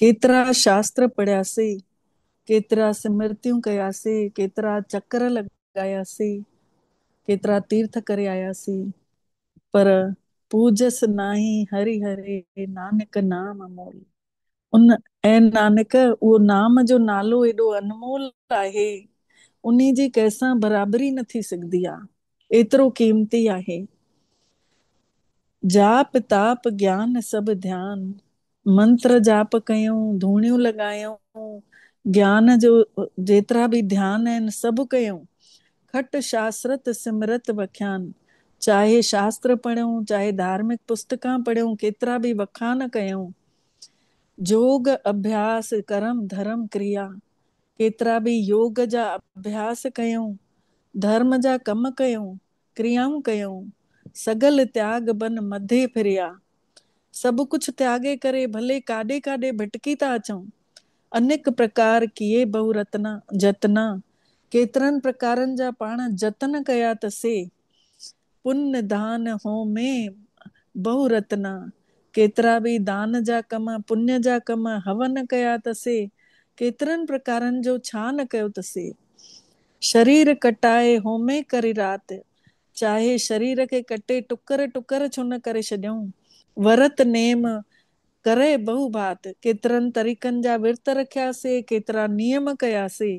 ڪيترا شاستر پڙهياسين، ڪيترا سمرتيون ڪياسين، ڪيترا چڪر لڳاياسين، ڪيترا تيرٿ ڪري آياسين، پر پوجس ناهي هري هري نانڪ نام امول. ان اي نانڪ اهو نام جو نالو ايڏو انمول آهي، انهي جي ڪنهن سان برابري نه ٿي سگهدي آ، ايترو قيمتي آهي. جاپ تاپ گيان سڀ ڌيان، منتر جاپ ڪيائون، ڌوڻيون لڳايائون، گيان جو جيترا به ڌيان آهن سڀ ڪيائون. کٽ شاسرت سمرت وکيان، چاهي شاستر پڙهيائون، چاهي ڌارمڪ پستڪان پڙهيائون، ڪيترا به وکان ڪيائون. جوڳ اڀياس، ڪرم ڌرم ڪريا، ڪيترا به يوڳ جا اڀياس ڪيائون، ڌرم جا ڪم ڪيائون، ڪريائون ڪيائون، سگل تياڳ بن مڌي ڦريا. سڀ ڪڇ تياڳي ڪري، ڀلي ڪاڏي ڪاڏي ڀٽڪي ٿا اچون. انيڪ پرڪار ڪيي بهو رتنا، جتنا، ڪيترن پرڪارن جا پاڻ جتن ڪيا ته سي، پن نڌان هون مين بهو رتنا، ڪيترا به دان جا ڪم، پڃ جا ڪم، هون نه ڪيا ته سي، ڪيترن پرڪارن جو ڇا نه ڪيو ته سي. شرير ڪٽائي هومي ڪري رات، چاهي شرير کي ڪٽي ٽڪر ٽڪر ڇو نه ڪري ڇڏيون. ورت نيم ڪرئه بهو ڀات، ڪيترن طريقن جا ورت رکيا سي، ڪيترا نيم ڪيا سي.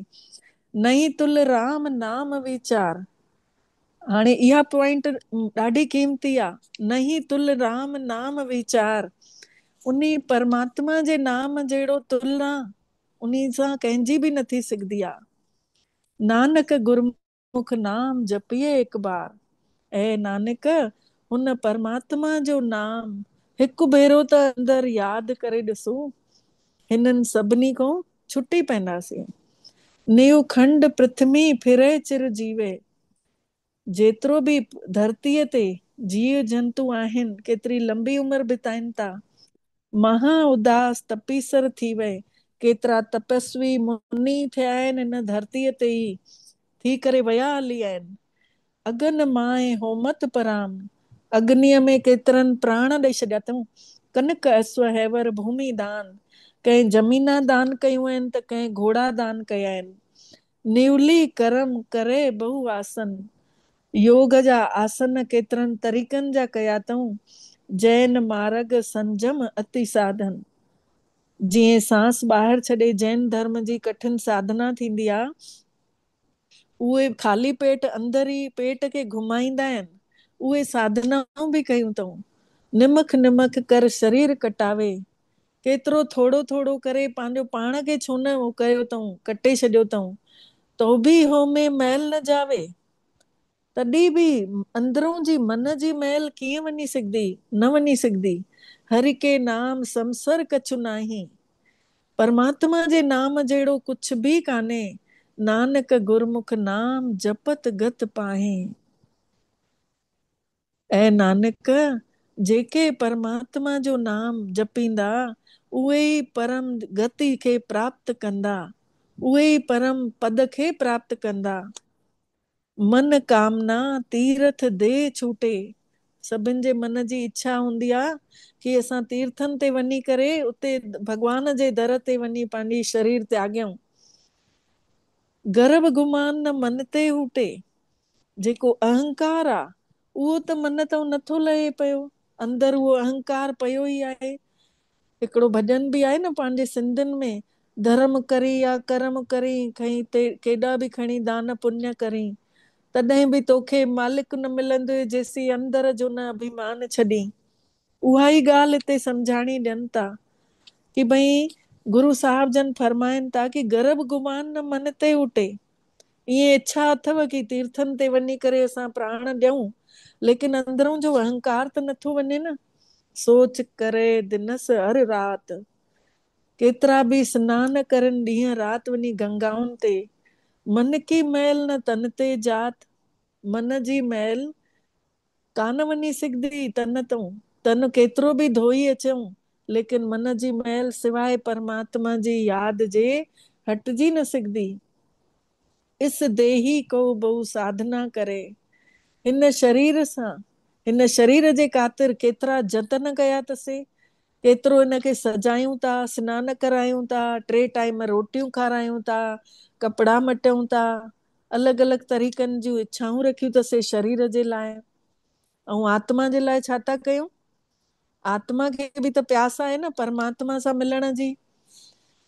نئين تل رام نام ويچار. هاڻي اها پوائنٽ ڏاڍي قيمتي آ. نئين تل رام نام ويچار. انهي پرماتما جي نام جهڙو تل ناهي. انهي سان ڪنهن جي به نه ٿي سگهدي آ. نانڪ گرمک نام جپيئي هڪ بار. اي نانڪ! هن پرماتما جو نام هڪ ڀيرو ته اندر ياد ڪري ڏسون. هنن سڀني ڪون ڇٽي پئنداسين. نيو کنڊ پرٿمي ڦرئي چر جيوي. جيترو به ڌرتيء تي جيء جنتو آهن، ڪيتري لنبي عمر بتائين ٿا. مها اداس تپيسر ٿي وئي. ڪيترا تپسوي مني ٿيا آهن هن ڌرتيء تي ئي ٿي ڪري ويا هلي آهن. اگن ماهي هومت پرام اگنيء ۾ ڪيترن پراڻ ڏئي ڇڏيا اٿئون. ڪنڪ اسوه هيور ڀومي دان، ڪنهن زمينا دان ڪيون آهن ته ڪنهن گهوڙا دان ڪيا آهن. نيولي ڪرم ڪري بهو آسن. يوگ جا آسن ڪيترن طريقن جا ڪيا اٿئون، جئن مارگ سنجم اتي ساڌن. جئين سانس ٻاهر ڇڏي جئن ڌرم جي ڪٺن ساڌنا ٿيندي آ. اهي خالي پيٽ اندر ئي پيٽ کي گهمائيندا آهن. اهي ساڌنائون به ڪيون اٿئون. نمک نمک ڪر شرير ڪٽاوي. ڪيترو ٿورو ٿورو ڪري پنهنجو پاڻ کي ڇو نه اهو ڪيو اٿئون، ڪٽي ڇڏيو اٿئون. توبي هو ۾ مئل نه جاوي. تڏهن به اندرون جي من جي مئل ڪيئن وڃي سگهندي؟ نه وڃي سگهندي. هري ڪي نام سمسر ڪڇ ناهي. پرماتما جي نام جهڙو ڪڇ به ڪانهي. نانڪ گرمک نام جپت گت پاهين. اي نانڪ! جيڪي پرماتما جو نام جپيندا، اهي ئي پرم گت کي پراپت ڪندا، اهي ئي پرم پد کي پراپت ڪندا. من ڪامنا تيرٿ دي ڇوٽي، سڀن جي من جي اڇا هوندي آ ڪي اسان تيرٿن تي وڃي ڪري اتي ڀڳوان جي در تي وڃي پنهنجي شرير تياڳيون. گر به گمان نه من تي هوٽي. جيڪو اهنڪار آ، اهو ته من تئون نه ٿو لهي پيو. اندر اهو اهنڪار پيو ئي آهي. هڪڙو ڀڄن به آهي نه پنهنجي سنڌين ۾، ڌرم ڪرين يا ڪرم ڪرين، کئين تي ڪيڏا به کڻي دان پڃ ڪرين، تڏهن به توکي مالڪ نه ملندوئي جيسين اندر جو نه اڀيمان ڇڏين. اها ئي ڳالهه هتي سمجهاڻي ڏين ٿا ڪي ڀئي گرو صاحب جن فرمائن ٿا ڪي گرڀ گمان نه من تي اٽي. ائين اڇا اٿو ڪي تيرٿن تي وڃي ڪري اسان پراڻ ڏيون ليڪن اندرون جو اهنڪار ته نٿو وڃي نه. سوچ ڪري دنس هر رات. ڪيترا به سنان ڪرن ڏينهن رات وڃي گنگائن تي. من ڪي ميل نه تن تي جات. من جي ميل ڪانه وڃي سگهندي تن تون، تن ڪيترو به ڌوئي اچئون، ليڪن من جي مئل سواء پرماتما جي ياد جي هٽجي نه سگهندي. اس ديهي ڪو بهو ساڌنا ڪري. هن شرير سان، هن شرير جي خاطر ڪيترا جتن ڪيا تسين، ڪيترو هن کي سجايون ٿا، سنان ڪرايون ٿا، ٽي ٽائيم روٽيون کارايون ٿا، ڪپڙا مٽيون ٿا، الڳ الڳ طريقن جون اڇائون رکيون ته سي شرير جي لاء ۽ آتما جي لاء ڇا ٿا ڪيون؟ آتما کي به ته پياس آهي نه پرماتما سان ملڻ جي.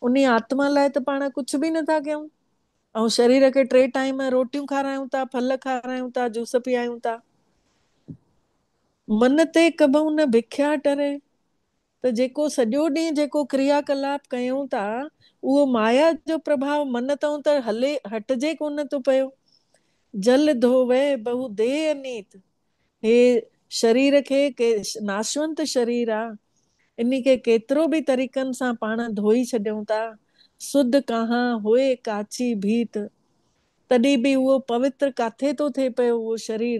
انهي آتما لاء ته پاڻ ڪجهه به نه ٿا ڪيون ۽ شرير کي ٽي ٽائيم روٽيون کارايون ٿا، ڦل کارايون ٿا، جوس پيايون ٿا. من تي ڪبهون نه بکيا ٽري. ته جيڪو سڄو ڏينهن جيڪو ڪريا ڪلاپ ڪيون ٿا اهو مايا جو پرڀاء من تئون ته هلي هٽجي ڪونه ٿو پيو. جل ڌووي بهو ديهه انيت. هي شرير کي ڪي ناشونت شرير آ. انهي کي ڪيترو به طريقن سان پاڻ ڌوئي ڇڏيون ٿا. سڌ ڪهان هوئي ڪاچي ڀيت. تڏهن به اهو پوتر ڪاٿي ٿو ٿئي پيو اهو شرير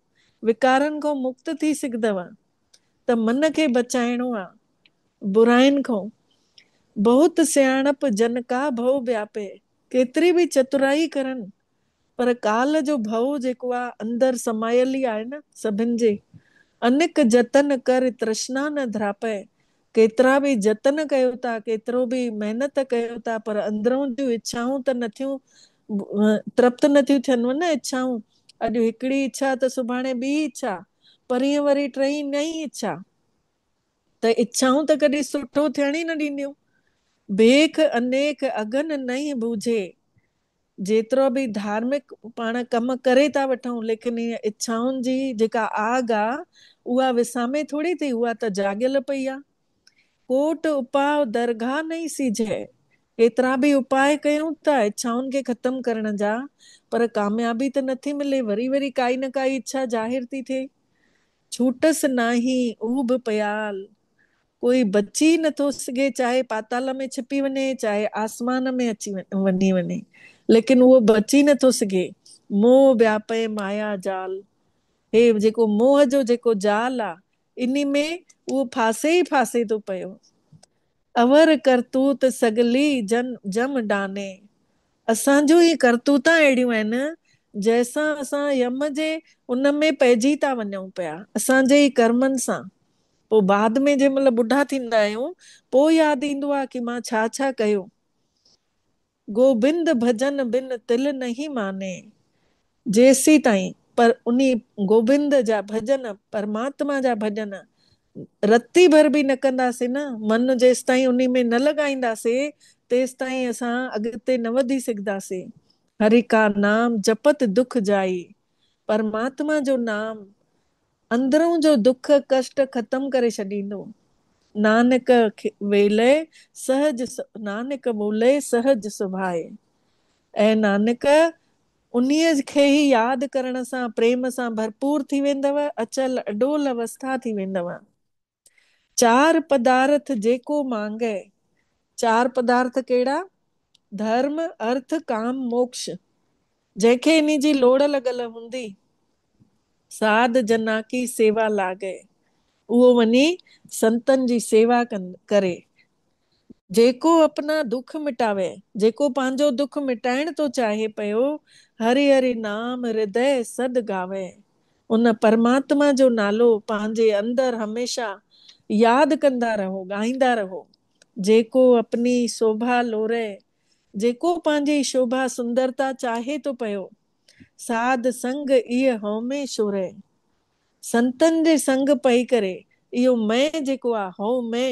وڪارن کان مڪت ٿي سگهندؤ ته من کي بچائڻو آ برائين کان. بهت سياڻپ جن ڪا ڀؤ وياپي، ڪيتري به چترائي ڪرن پر ڪال جو ڀؤ جيڪو آ اندر سمايل ئي آهي نه سڀن جي. انيڪ جتن ڪر ترشنا نه ڌراپئي، ڪيترا به جتن ڪيو ٿا، ڪيترو به محنت ڪيو ٿا پر اندرون جون اڇائون ته نٿيون ترپت نٿيون ٿين و نه اڇائون اڄ هڪڙي اڇا ته سڀاڻي ٻي اڇا پرينء وري ٽئين نئين اڇا ته اڇائون ته ڪڏهن سٺو ٿيڻ ئي نه ڏينديون. بيک انيڪ اگهن نهين بوجهي جيترو به ڌارمڪ پاڻ ڪم ڪري ٿا وٺون ليڪن هي اڇائن جي جيڪا آگ آ اها وسامي ٿوري ٿي اها ته جاڳيل پئي آ. ڪوٽ اپاء درگاهه نئي سيجهي. ڪيترا به اپاء ڪيون ٿا اڇائن کي ختم ڪرڻ جا پر ڪاميابي ته نٿي ملي وري وري ڪائي نه ڪائي اڇا ظاهر ٿي ٿئي. ڇوٽس ناهين اهو به پيال. ڪوئي بچي ئي نٿو سگهي، چاهي پاتال ۾ ڇپي وڃي، چاهي آسمان ۾ اچي وڃي وڃي، ليڪن اهو بچي نٿو سگهي. موهه وياپئي مايا جال، هي جيڪو موهه جو جيڪو جال آ، انهي ۾ اهو ڦاسي ئي ڦاسي ٿو پيو. اور ڪرتوت سڳلي جن جم ڊاني، اسان جون هي ڪرتوتان اهڙيون آهن، جنهن سان اسان يم جي ان ۾ پئجي ٿا وڃون پيا، اسان جي ئي ڪرمن سان. پوء بعد ۾ جنهن مهل ٻڍا ٿيندا آهيون، پوء ياد ايندو آهي ڪي مان ڇا ڇا ڪيو. گوبند ڀڄن بن تل نهين ماني. جيسيتائين پر انهي گوبند جا ڀڄن، پرماتما جا ڀڄن، رتي ڀر به نه ڪنداسين نه، من جيستائين انهي ۾ نه لڳائينداسين، تيستائين اسان اڳتي نه وڌي سگهداسين. هري ڪا نام جپت دک جائي. پرماتما جو نام اندرون جو دک ڪشٽ ختم ڪري ڇڏيندو. نانڪ ويلئه سهج نانڪ ٻولئه سهج سڀائي. اي نانڪ! انهيء کي ئي ياد ڪرڻ سان پريم سان ڀرپور ٿي ويندؤ، اچل اڏول اوسٿا ٿي ويندؤ. چار پدارٿ جيڪو مانگئي. چار پدارٿ ڪهڙا؟ ڌرم، ارٿ، ڪام، موڪش. جنهن کي انهي جي لوڙ لڳل هوندي، ساڌ جنا ڪي سيوا لاگئي. اهو وڃي سنتن جي سيوا ڪري. جيڪو اپنا دک مٽاوي، جيڪو پنهنجو دک مٽائڻ ٿو چاهي پيو، هري هري نام هردئه سڌ گاوي. ان پرماتما جو نالو پنهنجي اندر هميشه ياد ڪندا رهو، ڳائيندا رهو. جيڪو اپني سوڀا لورئي، جيڪو پنهنجي شوڀا سندرتا چاهي ٿو پيو، ساڌ سنگ ايء هومي شورئي. سنتن جي سنگ پئي ڪري، اهو مئي جيڪو آ، هو مئي،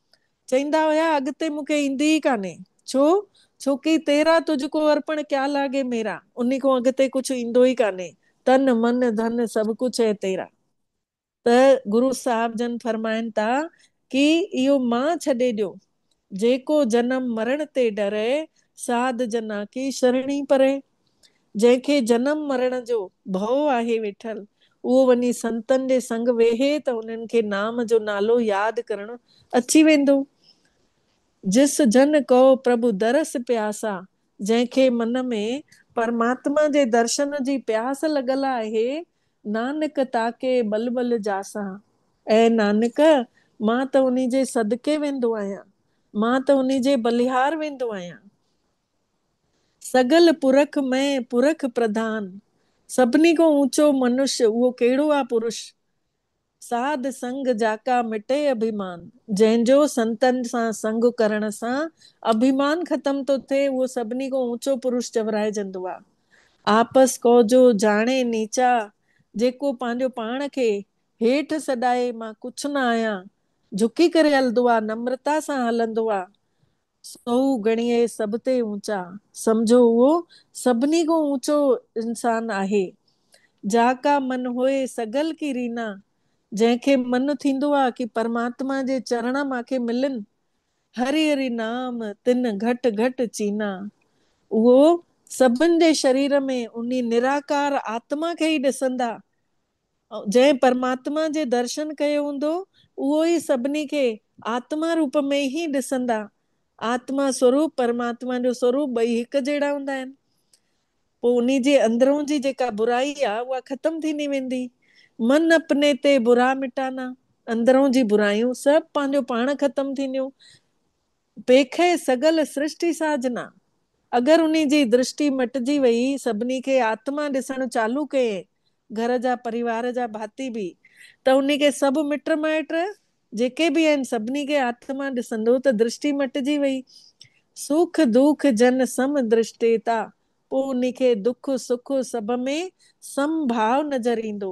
چئيندا هيا اڳتي مون کي ايندي ئي ڪانهي. ڇو؟ ڇوڪي تيرا تجھ ڪو ارپڻ ڪيا لاگي ميرا انهي کان اڳتي ڪجھ ايندو ئي ڪانهي. تن، من، ڌن سڀ ڪجھ هي تيرا. ته گرو صاحب جن فرمائن ٿا ڪي اهو مان ڇڏي ڏيو. جيڪو جنم مرڻ تي ڊري، ساڌ جنا ڪي شرڻي پري. جنهن کي جنم مرڻ جو ڀؤ آهي ويٺل، اهو وڃي سنتن جي سنگ ويهي ته انهن کي نام جو نالو ياد ڪرڻ اچي ويندو. جس جن ڪئو پرڀو درس پياسا، جنهن کي من ۾ پرماتما جي درشن جي پياس لڳل آهي، نانڪ تاڪي ٻل ٻل جاسا. اي نانڪ! مان ته انهي جي صدقي ويندو آهيان، مان ته انهي جي بلهار ويندو آهيان. سگل پرک مئين پرک پرڌان، سڀني کان اوچو منش، اهو ڪهڙو آ پرش؟ ساڌ سنگ جاڪا مٽي اڀيمان، جنهن جو سنتن سان سنگ ڪرڻ سان اڀيمان ختم ٿو ٿئي، اهو سڀني کان اوچو پرش چورائجندو آ. آپس ڪوجو جاڻي نيچا، جيڪو پنهنجو پاڻ کي هيٺ سڏائي، مان ڪڇ نه آهيان، جهڪي ڪري هلندو آ، نمرتا سان هلندو آ، سو هو گڻي اهي سڀ تي اوچا. سمجهو اهو سڀني کان اوچو انسان آهي. جا ڪا من هوئي سگل ڪي رينا. جنهن کي من ٿيندو آ ڪي پرماتما جي چرڻ مان کي ملن. هري هري نام تن گهٽ گهٽ چينا. اهو سڀن جي شرير ۾ انهي نراڪار آتما کي ئي ڏسندا. جنهن پرماتما جي درشن ڪيو هوندو، اهو ئي سڀني کي آتما روپ ۾ ئي ڏسندا. آتما سوروپ، پرماتما جو سوروپ ٻئي هڪ جهڙا هوندا آهن. پوء انهي جي اندرون جي جيڪا برائي آ، اها ختم ٿيندي ويندي. من اپني تي برا مٽانا، اندرون جي برايون سڀ پنهنجو پاڻ ختم ٿينديون. پيکئي سگل سرشٽي ساجنا. اگر انهي جي درشٽي مٽجي وئي، سڀني کي آتما ڏسڻ چالو ڪيئي، گهر جا پريوار جا ڀاتي به، ته انهي کي سڀ مٽ مائٽ جيڪي به آهن سڀني کي آتما ڏسندو ته درشٽي مٽجي وئي. سوک دوک جن سم درشٽيتا، پوء انهي کي دک سک سڀ ۾ سم ڀاء نظر ايندو.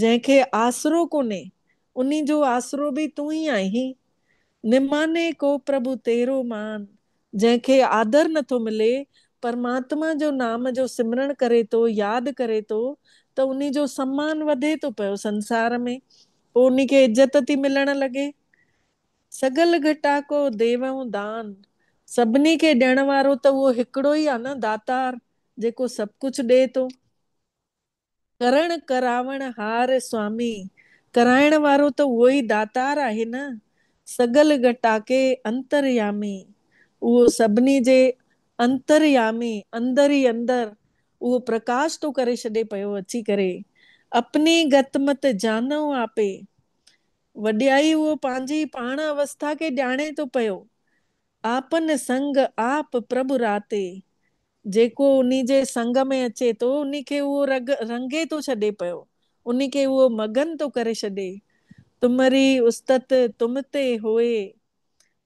جنهن کي آسرو ڪونهي، انهي جو آسرو به تون ئي آهين. نماني ڪو پرڀو تيرو مان، جنهن کي آڌر نٿو ملي، پرماتما جو نام جو سمرڻ ڪري ٿو، ياد ڪري ٿو ته انهي جو سمان وڌي ٿو پيو سنسار ۾، پوء انهي کي عزت ٿي ملڻ لڳي. سگل گهٽا ڪو ديون دان، سڀني کي ڏيڻ وارو ته اهو هڪڙو ئي آهي نه داتار، جيڪو سڀ ڪجهه ڏئي ٿو. ڪرڻ ڪراوڻ هار سوامي، ڪرائڻ وارو ته اهو ئي داتار آهي نه، سڳل گهٽاڪي انتريامي، اهو سڀني جي انتريامي، اندر ئي اندر اهو پرڪاش ٿو ڪري ڇڏي پيو اچي ڪري، اپني گت مت جانئو آپي، وڏيائي اهو پنهنجي پاڻ اوسٿا کي ڄاڻي ٿو پيو، آپن سنگ آپ پرڀ راتي، جيڪو انهي جي سنگ ۾ اچي ٿو، انهي کي اهو رڳ رنگي ٿو ڇڏي پيو، انهي کي اهو مگن ٿو ڪري ڇڏي. تمري استت تم تي هوئي.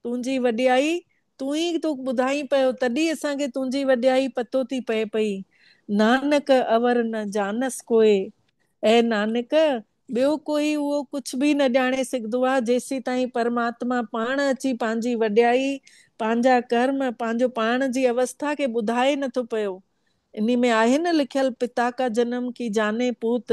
تنهنجي وڏيائي تون ئي ٿو ٻڌائين پيو، تڏهن اسان کي تنهنجي وڏيائي پتو ٿي پئي پئي. نانڪ اور نه جانس ڪوئي. اي نانڪ! ٻيو ڪوئي اهو ڪڇ ڀي نه ڄاڻي سگهدو آهي جيسيتائين پرماتما پاڻ اچي پنهنجي وڏيائي، پنهنجا ڪرم، پنهنجو پاڻ جي اوسٿا کي ٻڌائي نه ٿو پيو. انهي ۾ آهي نه لکيل پتا ڪا جنم ڪي جاني پوت،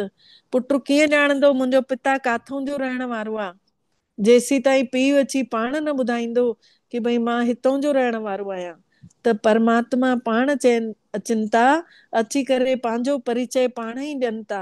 پٽ ڪيئن ڄاڻندو منهنجو پتا ڪاٿون جو رهڻ وارو آهي جيسيتائين پيء اچي پاڻ نه ٻڌائيندو ڪي ڀئي مان هتئون جو رهڻ وارو آهيان ته پرماتما پاڻ چين اچن ٿا اچي ڪري پنهنجو پريچئي پاڻ ئي ڏين ٿا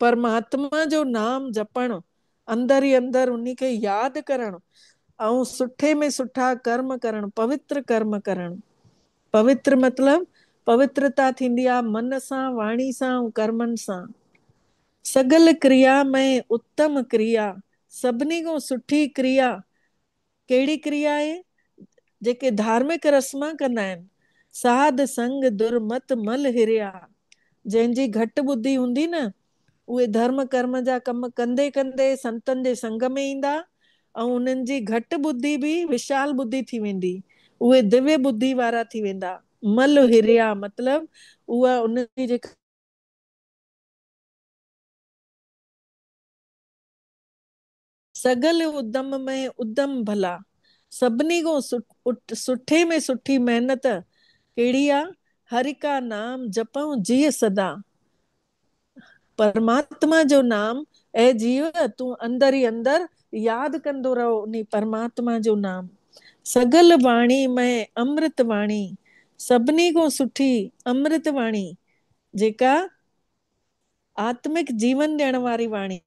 پرماتما جو نام جپڻ، اندر ئي اندر انهي کي ياد ڪرڻ ۽ سٺي ۾ سٺا ڪرم ڪرڻ، پوتر ڪرم ڪرڻ. پوتر مطلب پوترتا ٿيندي آ من سان، واڻي سان ۽ ڪرمن سان. سگل ڪريا ۾ اتم ڪريا، سڀني کان سٺي ڪريا ڪهڙي ڪريا آهي؟ جيڪي ڌارمڪ رسمان ڪندا آهن. ساڌ سنگ در مت مل هريا. جنهن جي گهٽ ٻڌي هوندي نه، اهي ڌرم ڪرم جا ڪم ڪندي ڪندي سنتن جي سنگ ۾ ايندا، ۽ انهن جي گهٽ ٻڌي به وشال ٻڌي ٿي ويندي. اهي دوي ٻڌي وارا ٿي ويندا. مل هريا مطلب اها انهن جي جيڪا. سگهل ادم ۾ ادم ڀلا. سڀني کان سٺي ۾ سٺي محنت ڪهڙي آ؟ هري ڪا نام جپئون جيء سدا. پرماتما جو نام اي جيء تون اندر ئي اندر ياد ڪندو رهه انهي پرماتما جو نام. سگهل واڻي ۾ امرت واڻي. سڀني کان سٺي امرت واڻي جيڪا آتمڪ جيون ڏيڻ واري واڻي.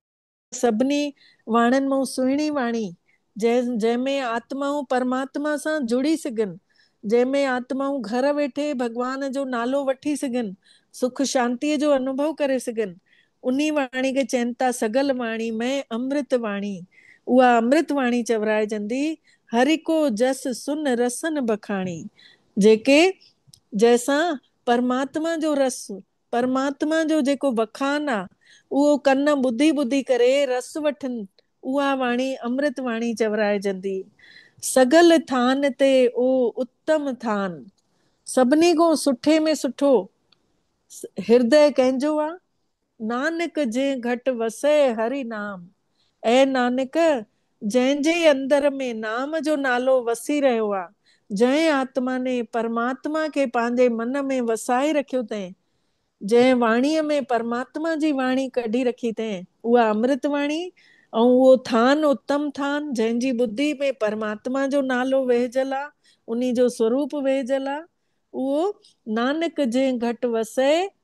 سڀني واڻين مئون سهڻي واڻي، جنهن جنهن ۾ آتمائون پرماتما سان جڙي سگهن، جنهن ۾ آتمائون گهر ويٺي ڀڳوان جو نالو وٺي سگهن، سک شانتيء جو انوڀو ڪري سگهن، انهي واڻي کي چين ٿا سگل واڻي مئن امرت واڻي. اها امرت واڻي چورائجندي، هرهڪو جس سن رسن بکاڻي. جيڪي جنهن سان پرماتما جو رس پرماتما جو جيڪو وکان آ، اهو ڪن ٻڌي ٻڌي ڪري رس وٺن، اها واڻي امرت واڻي چورائجندي. سگل ٿان تي او اتم ٿان، سڀني کون سٺي ۾ سٺو هردئه ڪنهن جو آ؟ نانڪ جنهن گهٽ وسئي هري نام. اي نانڪ! جنهن جي اندر ۾ نام جو نالو وسي رهيو آ، جنهن آتما ني پرماتما کي پنهنجي من ۾ وسائي رکيو تنهن، جنهن واڻيء ۾ پرماتما جي واڻي ڪڍي رکي تنهن، اها امرت واڻي ۽ اهو ٿان اتم ٿان، جنهن جي ٻڌي ۾ پرماتما جو نالو ويهجل آ، انهي جو سوروپ ويهجل آ، اهو، نانڪ، جنهن گهٽ وسئي،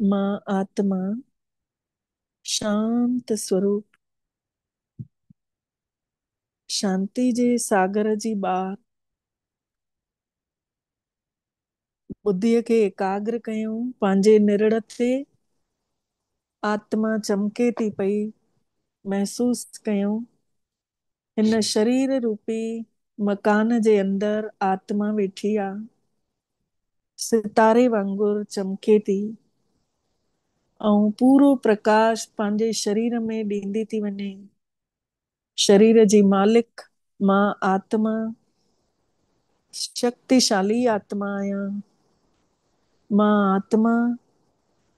مان آتما شانت سوروپ شانتي جي ساگر جي ٻار ٻڌيء کي ايڪاگر ڪيو پنهنجي نرڙ تي آتما چمڪي ٿي پئي محسوس ڪيو هن شرير روپي مڪان جي اندر آتما ويٺي آ. ستاري وانگر چمڪي ٿي ۽ پورو پرڪاش پنهنجي شرير ۾ ڏيندي ٿي وڃي. شرير جي مالڪ مان آتما شڪتيشالي آتما آهيان. مان آتما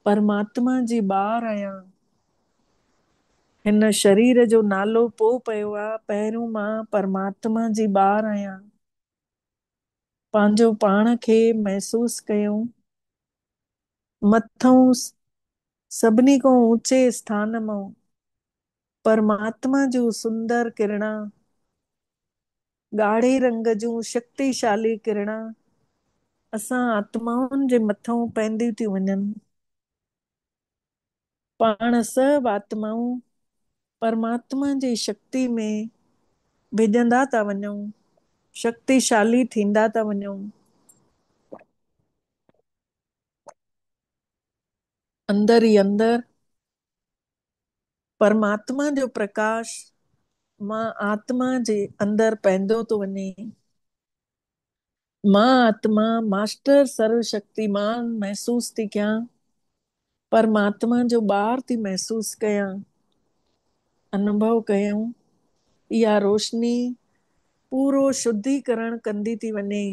پرماتما جي ٻار آهيان. هن شرير جو نالو پوء پيو آ، پهريون مان پرماتما جي ٻار آهيان. پنهنجو پاڻ کي محسوس ڪيو. مٿئون سڀني کان اوچي اسٿان مئون پرماتما جون سندر ڪرڻان، ڳاڙهي رنگ جون شڪتيشالي ڪرڻان اسان آتمائن جي مٿئون پئنديون ٿيون وڃن. پاڻ سڀ آتمائون پرماتما جي شڪتي ۾ ڀڄندا ٿا وڃون، شڪتيشالي ٿيندا ٿا وڃون. اندر ئي اندر پرماتما جو پرڪاش مان آتما جي اندر پئندو ٿو وڃي. مان آتما، ماسٽر سرو شڪتيمان، محسوس ٿي ڪيان. پر مان آتما جو ٻار ٿي محسوس ڪيان. انوڀو ڪيون. اها روشني پورو شڌي ڪرڻ ڪندي ٿي وڃي.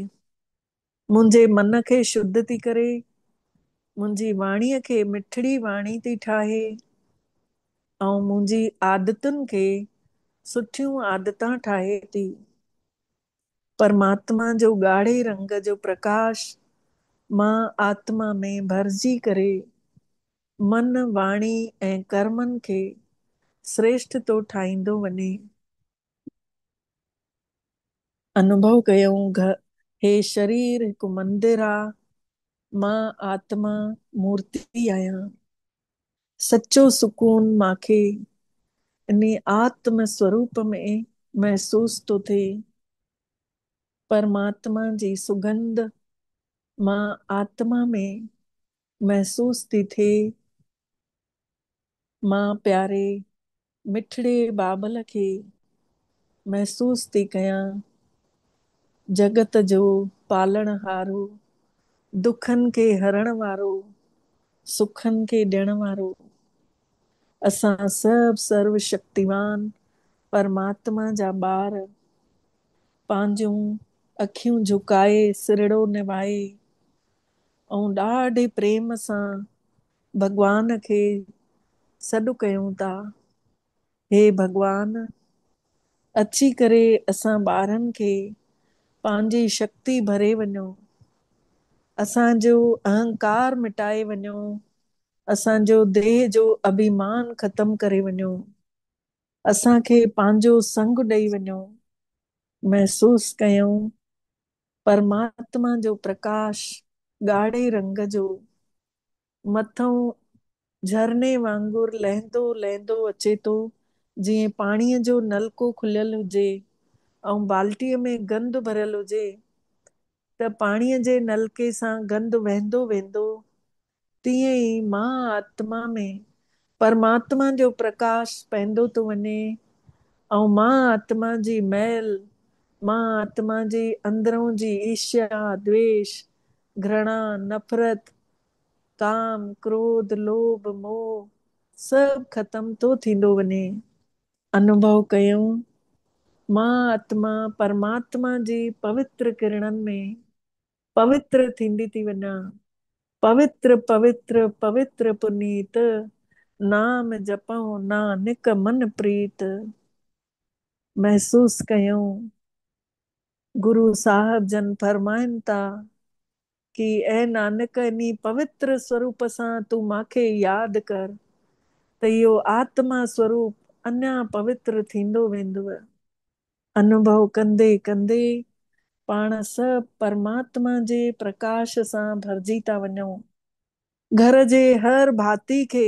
منهنجي من کي شڌ ٿي ڪري. منهنجي واڻي کي مٺڙي واڻي ٿي ٺاهي. ۽ منهنجي عادتن کي سٺيون عادتان ٺاهي ٿي. پرماتما جو ڳاڙهي رنگ جو پرڪاش مان آتما ۾ ڀرجي ڪري من، واڻي ۽ ڪرمن کي سريشٺ ٿو ٺاهيندو وڃي. انوڀو ڪيون گهه هي شرير هڪ مندر آ، مان آتما مورتي آهيان. سچو سڪون مان کي انهي آتم سوروپ ۾ محسوس ٿو ٿئي. پرماتما جي سڳنڌ مان آتما ۾ محسوس ٿي ٿئي. مان پياري مٺڙي بابل کي محسوس ٿي ڪيان، جڳت جو پالڻهارو، دکن کي هرڻ وارو، سکن کي ڏيڻ وارو، اسان سڀ سرو شڪتيوان پرماتما جا ٻار، پنهنجون اکيون جهڪائي سرهڙو نوائي، ۽ ڏاڍي پريم سان ڀڳوان کي سڏ ڪيون ٿا، هي ڀڳوان! اچي ڪري اسان ٻارن کي پنهنجي شڪتي ڀري وڃو، اسان جو اهنڪار مٽائي وڃو، اسان جو ديهه جو اڀيمان ختم ڪري وڃو، اسان کي پنهنجو سڱ ڏئي وڃو. محسوس ڪيائون پرماتما جو پرڪاش ڳاڙهي رنگ جو مٿئون جهرڻي وانگر لهندو لهندو اچي ٿو، جيئن پاڻيء جو نلڪو کليل هجي ۽ بالٽيء ۾ گند ڀريل هجي ته پاڻيء جي نلڪي سان گند وهندو ويندو، تيئن ئي مان آتما ۾ پرماتما جو پرڪاش پئندو ٿو وڃي ۽ مان آتما جي مئل، مان آتما جي اندرئون جي عيشيا، دويش، گھرڻا، نفرت، ڪام، ڪروڌ، لوڀ، موھ سڀ ختم ٿو ٿيندو وڃي. انوڀو ڪيون، مان آتما پرماتما جي پوتر ڪرڻن ۾ پوتر ٿيندي ٿي وڃان. پوتر، پوتر، پوتر پنيت، نام جپئو نانڪ من پريت. محسوس ڪيون. گرو صاحب جن فرمائن ٿا ڪي اي نانڪ انهي پوتر سوروپ سان تون ماکي ياد ڪر ته اهو آتما سوروپ اڃا پوتر ٿيندو ويندو. انوڀو ڪندي ڪندي پاڻ سڀ پرماتما جي پرڪاش سان ڀرجي ٿا وڃون. گهر جي هر ڀاتي کي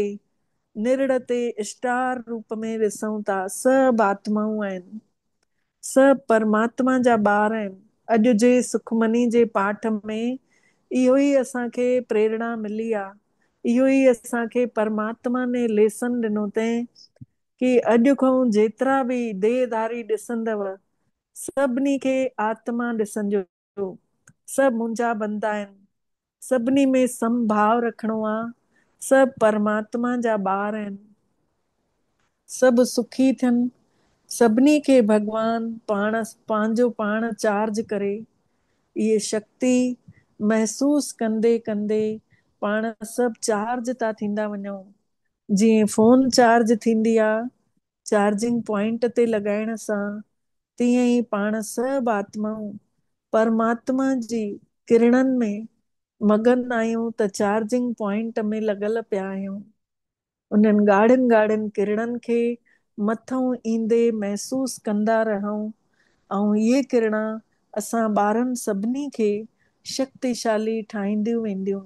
نرڙ تي اسٽار روپ ۾ ڏسون ٿا. سڀ آتمائون آهن. سڀ پرماتما جا ٻار آهن. اڄ جي سکمني جي پاٺ ۾ اهو ئي اسان کي پريرڻا ملي آ. اهو ئي اسان کي پرماتما ني ليسن ڏنو تين ڪي اڄ کئون جيترا به ديهه ڌاري ڏسندؤ سڀني کي آتما ڏسنجو. جو سڀ منهنجا بندا آهن، سڀني ۾ سم ڀاء رکڻو آ، سڀ پرماتما جا ٻار آهن، سڀ سکي ٿين، سڀني کي ڀڳوان پاڻ پنهنجو پاڻ چارج ڪري، اهي شڪتي محسوس ڪندي ڪندي پاڻ سڀ چارج ٿا ٿيندا وڃون، جيئن فون چارج ٿيندي آ، چارجنگ پوائنٽ تي لڳائڻ سان تيئن ئي پاڻ سڀ آتمائون پرماتما جي ڪرڻن ۾ مگن آهيون ته چارجنگ پوائنٽ ۾ لڳل پيا آهيون. انهن ڳاڙهين ڳاڙهين ڪرڻن کي مٿئون ايندي محسوس ڪندا رهون ۽ اهي ڪرڻا اسان ٻارن سڀني کي شڪتيشالي ٺاهينديون وينديون